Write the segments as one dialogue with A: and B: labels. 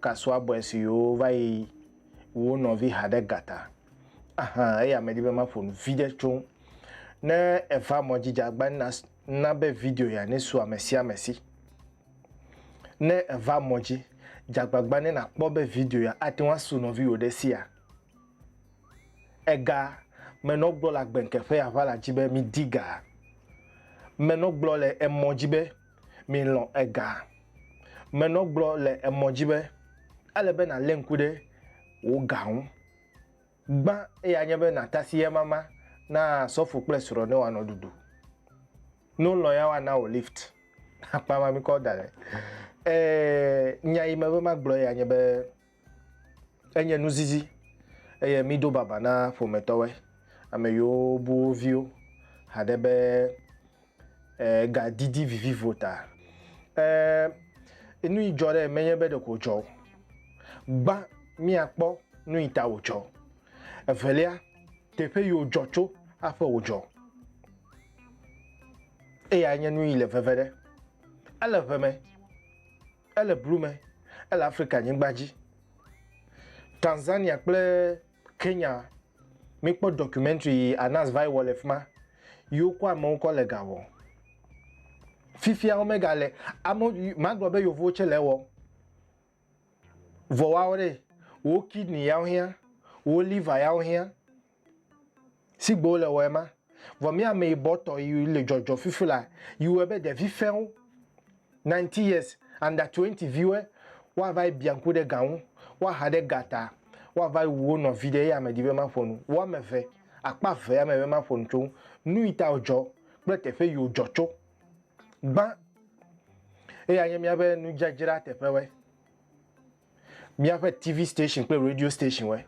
A: Kasua bɔe si yoo va yi wo nɔvi ha ɖe gata. Ahan eya medi be maƒo nu viɖe tso ŋu. Ne eva mɔ dzi dzagbã na na be video ya ne su ame sia ame si. Ne eva mɔ dzi dzagbagba ne na kpɔ be video ya ate ŋu asu nɔviwò ɖe sia. Ega menɔ gblɔ le agbenke ƒe aʋala dzi be midi ga. Menɔ gblɔ le emɔ dzi be. Milɔ̃ ega. Menɔ gblɔ le emɔ dzi be, ele be nàlé ŋku ɖe wò ga ŋu. Gbã eya nye be nàtasi emama na sɔfo kple srɔ̃ ne woanɔ ɖuɖu. Ne wolɔ̃ ya woana wò lift. Akpa ma mikɔ da ɖe. Ɛɛ, nya yi mebe magblɔ eya nye be, Enye nuzizi eye mído baba na ƒometɔwe, ame yiwo bu wo viwo haɖe be ga didi vivivo ta. E, nu yi dzɔ ɖe menye be ɖeko dzɔ o. Gbã míakpɔ nu yi ta wòdzɔ. Evelia, teƒe yi wòdzɔ tso aƒe wòdzɔ. Eya nye nu yi le veve ɖe. Ele ʋe me. Ele blu me, ele Afrika nyigba dzi. Tanzania kple Kenya, mikpɔ documentary yi Anas vai wɔ le fima, yi wokɔ amewo kɔ le ga wɔ. Fifia wo mega le, ame, magblɔ be yovowo tse le ewɔ. Vɔ woawo ɖe, wo kidney yawo hia, wo liver yawo hia, Si gbe wole wɔe ma, vɔ mía ameyibɔtɔ yi le jɔjɔ fifi la yi wɔe be ɖevi fɛ̃wo, ninety years, under twenty viwoe woava yi bia ŋku ɖe ga ŋu, woaha ɖe ga ta, woava yi wu wo nɔvi ɖe eya medi be maƒo nu, wo ame eve, akpa eve ya me be maƒo nu tso ŋu, nuyi ta wòdzɔ kple teƒe yi wòdzɔ tso. Gbã, eya nye míaƒe nudzadzra teƒewɔe. míaƒe TV station kple radio stationwoe.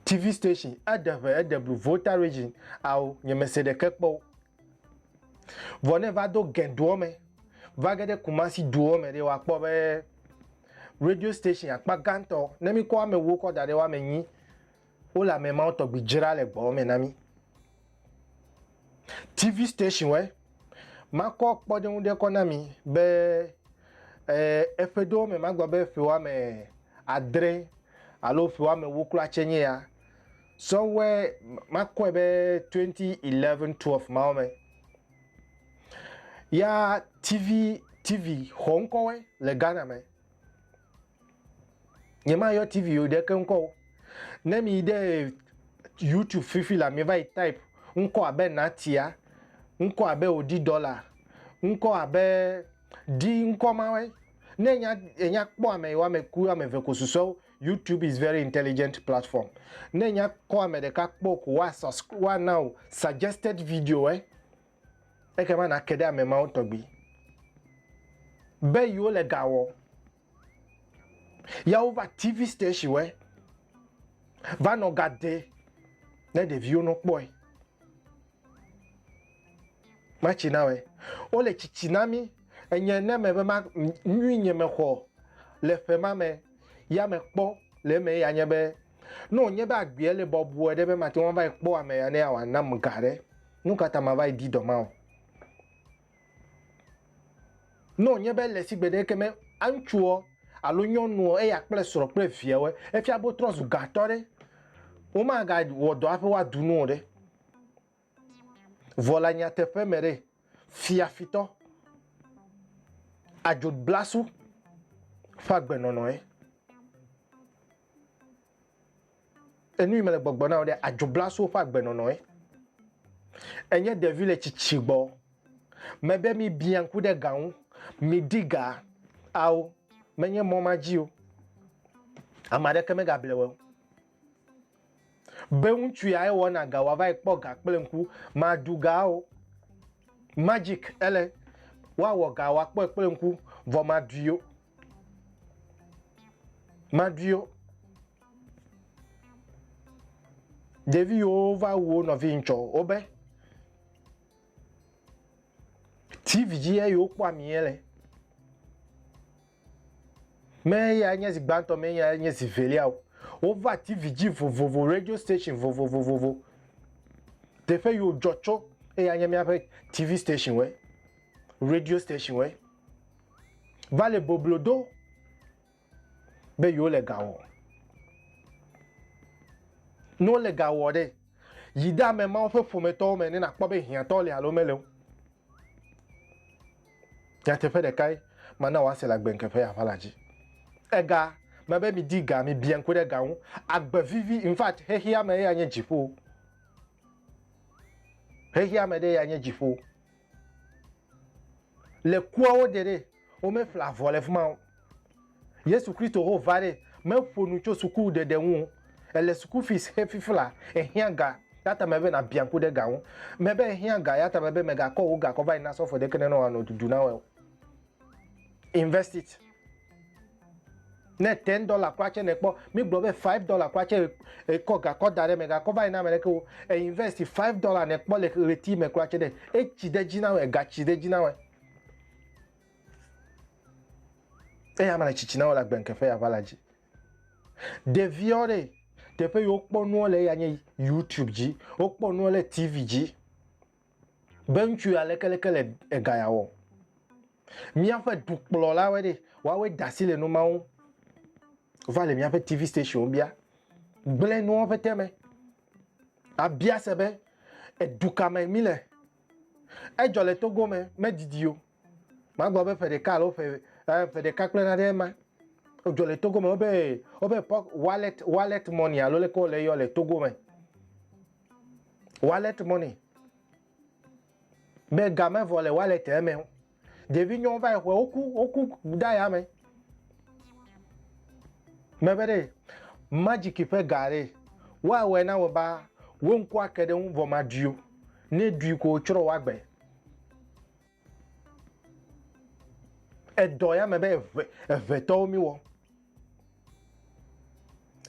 A: TV station eɖe ʋe eɖe blu Volta region ao nyemese ɖeke kpɔ wo. Vɔ ne va do Gɛndoɔ me va ge ɖe Kumasi duɔ me ɖe woakpɔ be radio station akpa gãtɔ ne mikɔ amewo kɔ da ɖe woame nyi Wole ame mawo tɔgbi dzra le gbɔ̃ me na mí. TV stationwɔe makɔ kpɔɖeŋu ɖe kɔ na mi be eƒe ɖewo me magblɔ be ƒe woame adre alo ƒe woame ewo kura tse nye ya. Sɔwɔe makɔe be 2011, 12 mawo me. Ya TV TV xɔ ŋkɔwɔe le Ghana me. Nyemayɔ TV o ɖe ke ŋkɔ o. Ne mi ɖe YouTube fifi la mi va yi type ŋkɔ abe Natia, ŋkɔ abe Odi Dɔla, ŋkɔ abe di ŋkɔ ma wɛ. Ne nya nya kpɔ ame yewo ame ku ame ve ko susɔwo. YouTube is very intelligent platform. Ne nya kɔ ame ɖeka kpɔ ko wa wa na o suggested video wɛ. Eke ma na ke ɖe ame mawo tɔgbi. Be yewo le ga wɔ. Ya wova TV station wɛ va nɔ ga de ne ɖeviwo nɔ kpɔe. Matsi na wɛ. Wo le tsitsi na mi enye ne me be ma nyui nye me xɔ le ƒe ma me ya me kpɔ le me ya nye be no nye be agbia le bɔbɔe ɖe be ma te wɔn va kpɔ ame ya ne ya wa nam ga ɖe. Nukata ma va di dɔ ma o. Ne wònye be le sigbe ɖeke me ŋutsuɔ alo nyɔnuɔ, eya kple srɔ̃ kple viawoe, efia be wotrɔ zu gãtɔ ɖe, womagawɔ dɔ hafi woadu nu o ɖe. Vɔ le nyateƒe me ɖe, fiafitɔ, adzodblasu ƒe agbenɔnɔe. Enu yi mele gbɔgblɔ na wò ɖe, adzobla so woƒe agbenɔnɔe. Enye ɖevi le tsitsi gbɔ. Mebe mibia ŋku ɖe ga ŋu, midi ga. Ao, menye mɔ ma dzi o. Ame aɖeke megable wò o. Be ŋutsu yae wɔna ga wòava yi kpɔ ga kple ŋku, màɖu ga o. Magic ele, woawɔ ga wòakpɔe kple ŋku, vɔ màɖui o. Maɖuiwo. Ɖevi yiwo va wu wo nɔvi ŋtsɔ wobe TV dzi ye yiwo kpɔ ami ye le. Me ya nye zi gbãtɔ, me ya nye zi velia o. Wova TV dzi vovovo, radio station vovovovovo. Teƒe yiwo dzɔ tso eya nye míaƒe TV station we, radio station we. va le boblo do be yewo le ga wɔ. Ne wole ga wɔ ɖe, yi ɖe ame mawo ƒe ƒometɔwo me ne nakpɔ be hiãtɔ le alo mele o. Nyateƒe ɖekae mana wòase le agbenke ƒe aʋa la dzi. Ega me be midi ga, mibiã ŋku ɖe ga ŋu. Agbe vivi, in fact, xexeame ye anye dziƒo. Xexeame ɖe ye anye dziƒo. Le kuawo dze ɖe, wo me ƒle avɔ le fima o. Yesu Kristo ho va ɖe, me ƒo nu tso suku ɖeɖe ŋu o. Ele suku fees xe fifla, ehiã ga, ya ta me be na biã ŋku ɖe ga ŋu. Me be ehiã ga, ya ta me be me ga kɔ wo ga kɔ va yi na sɔfo ɖe ke ne nɔ a nɔ dudu na wɔe o. Invest it. Ne ten dollar kura tse ne kpɔ, mi gblɔ be five dollar kura tse ekɔ gakɔ da ɖe me gakɔ va yi na ame ɖeke wo. E invest five dollar ne kpɔ le ɣleti me kura tse ne etsi ɖe dzi na wɔ, ega tsi ɖe dzi na wɔ. Eya ma le tsitsi na wɔ le agbenkɛ ƒe yava la dzi. Ɖeviwo ɖe teƒe yi wokpɔ nuwo le eya nye YouTube dzi, wokpɔ nuwo le TV dzi. Be ŋutsu ya leke leke le ega ya wɔ. Míaƒe dukplɔlawoe ɖe, woawoe da asi le nu ma ŋu. Wova le míaƒe TV stationwo bia. Gblẽ nuwo ƒete me. Abia se be, edu ka me míle? Edzɔ le Togo me, medidi o. Magblɔ be ƒe ɖeka alo ƒe eh, ƒe ɖeka kple naɖe ma dzɔ le Togo me wobe wobe wallet wallet money alo leke wole yɔ le Togo me wallet money be game vɔ le wallet eme o ɖevi nyɔwo va yi xɔe woku woku da ya me mebe ɖe magic ƒe ga ɖe woawɔe na wɔ ba wo ŋku ake ɖe ŋu vɔ ma ɖui o ne ɖui ko tsrɔ wa gbe. Edɔ ya me be eve evetɔwo mi wɔ.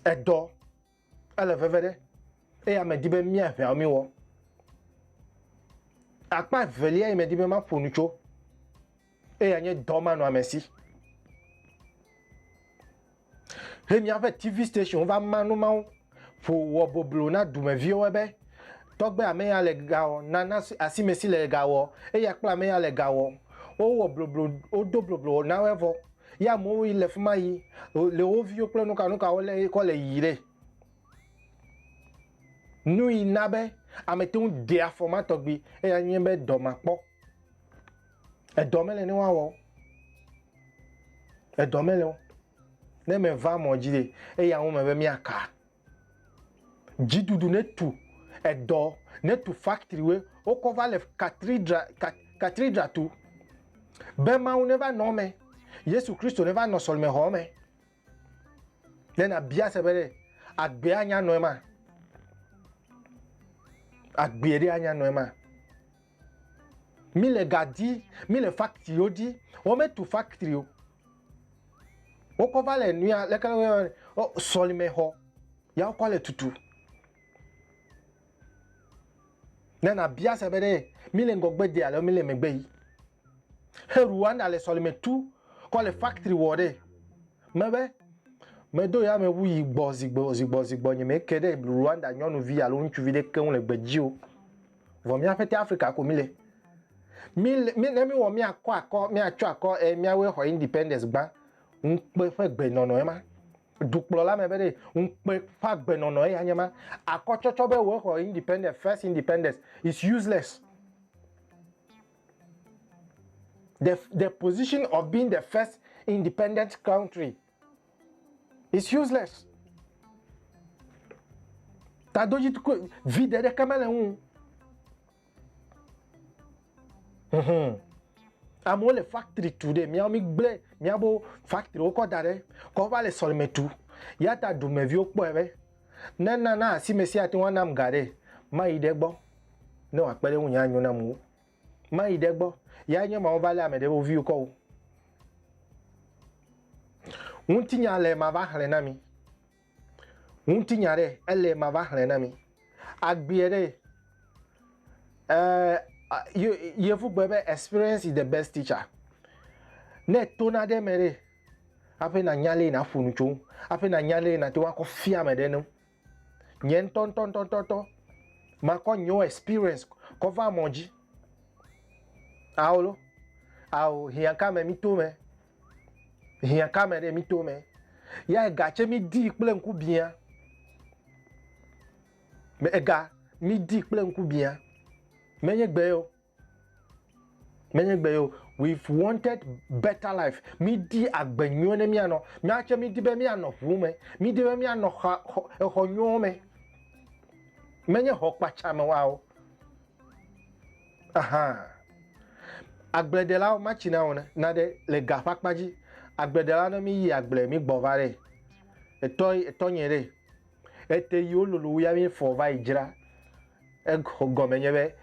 A: Edɔ ele veve ɖe eye ame di be mia eveawo mi wɔ. Akpa evelia yi me di be ma ƒo nu tso eye anye dɔ ma nɔ ame si. He míaƒe TV station va ma nu mawo ƒo wɔ boblo na dumeviwo be, Tɔgbe ame ya le ga wɔ, nana asime si le ga wɔ, eya kple ame ya le ga wɔ. Wowɔ bloblo, wodo bloblo na woe vɔ. Ye amewo yi le fi ma yi le wo viwo kple nukanuka wo le kɔ le yi ɖe. Nu yi na be ame te ŋu de afɔ ma tɔgbi eya nye be dɔ ma kpɔ. Edɔ mele ne woawɔ o. Edɔ mele o. Ne meva mɔ dzi ɖe, eya ŋu me be míaka. Dziɖuɖu ne tu edɔ, ne tu faktriwo, wokɔ va le katridra, kat, katridra tu. Be Mawu ne va nɔ eme. Yesu Kristo ne va nɔ sɔlimexɔ me. Ne nabia se be ɖe agbe anya nɔe ma. Agbe ɖe anya nɔe ma. Mi le ga di, mi le factory wo di, wo me tu factory o. Wo kɔ va le nuya leke le sɔlime xɔ. Ya wo kɔ le tutu. Ne nabia se be ɖe míle ŋgɔgbe de alo míle megbe yi. He Rwanda le sɔlime tu kɔ le factory wɔ ɖe. Mebe medo yameʋu yi gbɔ zigbɔ zigbɔ zigbɔ nye meke ɖe Rwanda nyɔnuvi alo ŋutsuvi ɖe keŋ le gbe dzi o. Vɔ míaƒe te Afrika ko míle. Míle mi ne míwɔ míakɔ akɔ míatsɔ akɔ e míawoe xɔ independence gbã ŋukpe ƒe gbe nɔnɔ ema. dukplɔla me be ɖe ŋukpe ƒe agbenɔnɔ eya nye ma. Akɔtsɔtsɔ be wòe xɔ independence, first independence is useless. The, the position of being the first independent country is useless. Tadoji vide ɖeke mele ŋu. amewo le factory tu ɖe miawo mi gblẽ miawo factory wo kɔ da ɖe kɔ va le sɔlime tu ya ta dumeviwo kpɔe be ne nana asi me sia te wanam ga ɖe mayi ɖe gbɔ ne wòakpe ɖe ŋu nye anyo na amewo mayi ɖe gbɔ ya nye mawo va lé ame ɖe wo viwo kɔ wo ŋutinya le ma va xlẽ na mi Ŋutinya ɖe ele mava xlẽ na mi. Agbea ɖe eh, yevu gbe be experience is the best teacher. Ne to na ɖe me ɖe aƒe na nya le na ƒo nu tso aƒe na nya le na te wa kɔ fia me ɖe nu. Nye ŋutɔ ŋutɔ ŋutɔ ŋutɔ ŋutɔ makɔ nyo experience kɔ va mɔ dzi. Aolo, ao hiãka me mi to me Hiã ka me ɖe mi to me? Ya ega tse mi di kple ŋku biã. Me ega mi di kple ŋku biã. Menye gbe yo. Menye gbe yo. We've wanted better life. Mi di agbe nyuie ne mi anɔ. Mi atse mi di be mi anɔ ʋu me. Mi di be mi anɔ xa, xɔ, exɔ nyuie me. Menye xɔ kpatsa me wa o. Aha. Agbledelawo matsi na wɔna naɖe le ga ƒe akpa dzi. Agbledela ne mi yi agble mi gbɔ va ɖe. Etɔ etɔ nye ɖe. Ete yi wo lolo ya mi fɔ va yi dzra. Exɔ gɔme nye be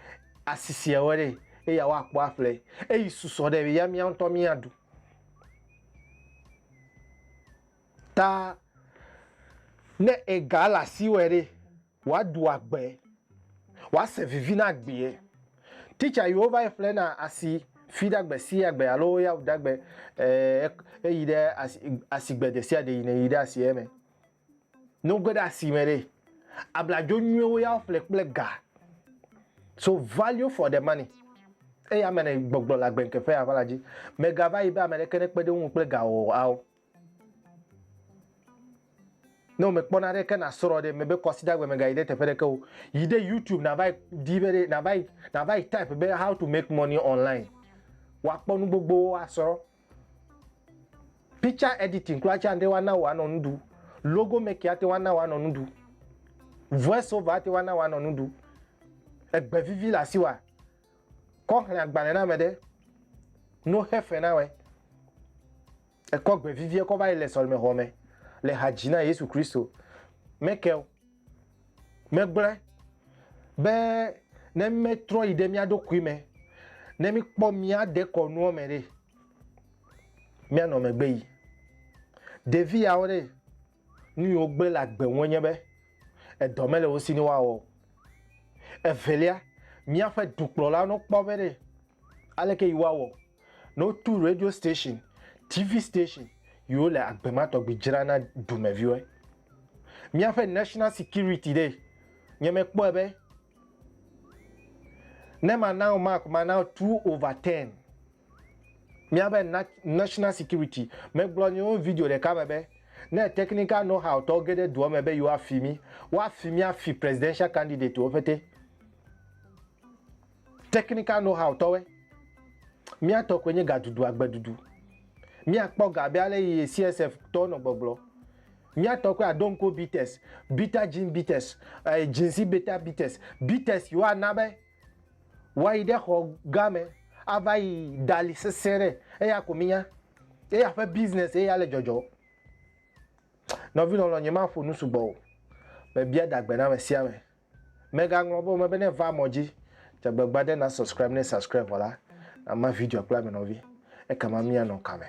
A: asisia wɔ ɖe eya wa kpɔ aƒle. Eyi susɔ ɖe ya mi antɔ mi aɖu. Ta ne ega la si wɔ ɖe. Woado agbe, woase vivi na agbeɛ. Teacher yiwo va yi ƒlena asi fi ɖe agbe si agbe alo ya wu ɖe agbe e yi ɖe asi asi gbe ɖe sia ɖe yi ne yi ɖe asi eme. Ne wo ge ɖe asi me ɖe, abladzo nyuiwo ya wo ƒle kple ga. So value for the money. Eya me ne gbɔgblɔ le agbe ŋkeƒe ya ƒe la dzi. Mega va yi be ame ɖeke ne kpe ɖe wo ŋu kple ga o ao. Ne womekpɔ na ɖeke nasrɔ ɖe mebe kwasida gbe megayi ɖe teƒe ɖeke o. Yi ɖe YouTube nava yi di be ɖe nava yi nava yi type be how to make money online. Woakpɔ nu gbogbowo asrɔ. Picture editing kura tse ate ŋu ana wò anɔ nu ɖu. Logo making ate ŋu ana wò anɔ nu ɖu. Voice over ate ŋu ana wò anɔ nu ɖu. Egbe vivi le asiwòa? Kɔ xlẽ agbalẽ na ame ɖe. No xe fe na wɔe. Ekɔ gbe vivie kɔ va yi le sɔlemexɔ me le ha dzi na Yesu Kristo. Michael megblɔe be ne míetrɔ yi ɖe mía ɖokui me, ne míekpɔ mía dekɔnuwo me ɖe, míanɔ megbe yi. Ɖevi yawo ɖe, nu yi wogblẽ le agbe ŋue nye be edɔ mele wo si ne woawɔ o. Evelia, míaƒe dukplɔlawo ne wokpɔ be ɖe, aleke yi woawɔ Ne wotu radio station, TV station yi wo le agbe ma tɔgbi dzra na dumɛviwɔɛ. Miaƒe national security ɖe nye me kpɔɛ be ne ma na wo mark ma na wo two over ten. Miabe national security me gblɔ nye wo video ɖeka me be ne technical know how tɔwo ge ɖe dua me be yi wa fi mi, wa fi mi afi presidential candidate wo ƒete. Technical know how tɔwɛ. Mía tɔ koe nye gadudu agbedudu. Mía kpɔ ga abe ale yi CSF tɔwo nɔ gbɔgblɔ. Mía tɔ koe aɖo ŋko beaters, bitter gin beaters, eh, ginsi bitter beaters, beaters yi wo ana be woa yi ɖe xɔ gã me ava yi dali sese ɖe. Eya ko mí nya. Eya ƒe business ye ya le dzɔdzɔ. Nɔvi lɔlɔ nye ma ƒo nu sugbɔ o. Me bia dagbe na ame sia ame. Megaŋlɔ be wome bene va mɔ dzi dze agbagba ɖe na subscribe ne subscribe vɔ la ama video kple ame nɔvi ekema mia nɔ kame.